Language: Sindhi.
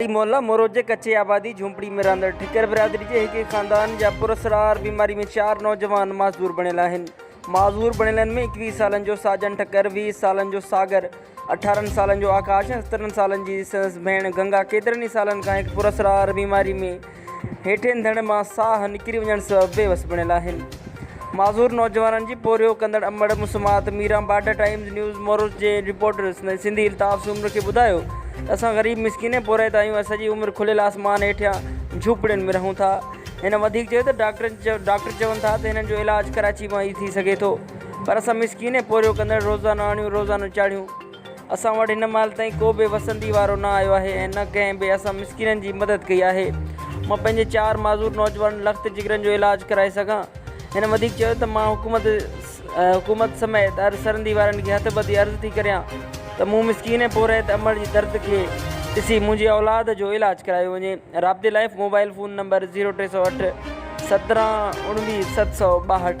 ٽالهي محلا مروجي ڪچي آبادي جهونپڙي ۾ رهندڙ ٺڪر برادري جي هڪ ئي خاندان جا پراسرار بيماري ۾ چار نوجوان معذور بڻيل آهن معذور بڻيلن ۾ ايڪويهه سالن جو ساجن ٺڪر ويهه سالن جو ساگر اٺارهن سالن جو آڪاش ۽ سترهن سالن جي سندس ڀيڻ گنگا ڪيترن ئي سالن کان هڪ پراسرار بيماري ۾ هيٺين ڌڻ مان ساهه نڪري وڃڻ سبب بي وس بڻيل آهن. معذور نوجوانن جي پورهيو ڪندڙ امڙ مسمات Miran Border Times News Marwat جي رپورٽر سنڌي الطاف سومرو کي ٻڌايو ته اسان غريب مسڪين ۽ پورهيت آهيون ۽ سڄي عمر کليل آسمان هيٺيان جهوپڙين ۾ رهون ٿا. هن وڌيڪ چيو ته ڊاڪٽر چون ٿا ته هنن جو علاج ڪراچي مان ئي ٿي سگهي ٿو پر اسان مسڪين ۽ پورهيو ڪندڙ روزانو آڻيون روزانو چاڙهيون اسان وٽ هن مهل تائين ڪو به وسندي وارو نه آيو آهي ۽ نه ڪنهن به اسان مسڪينن جي مدد ڪئي آهي. مان پنهنجي چار معذور نوجوانن لخت جگرن جو علاج ڪرائي سگهان. هن وڌيڪ چيو ته مان حڪومت حڪومت سميت هر سرندي وارن کي هٿ ٻڌي عرض ٿي ڪريان ته مون مسڪين ۽ پورهيت امڙ جي درد کي ڏسي منهنجي اولاد جو علاج ڪرايو وڃي رابطي لاء موبائل فون نمبر زيرو ٽي سؤ اٺ سترهن اوڻويهه ست سؤ ٻاهٺ.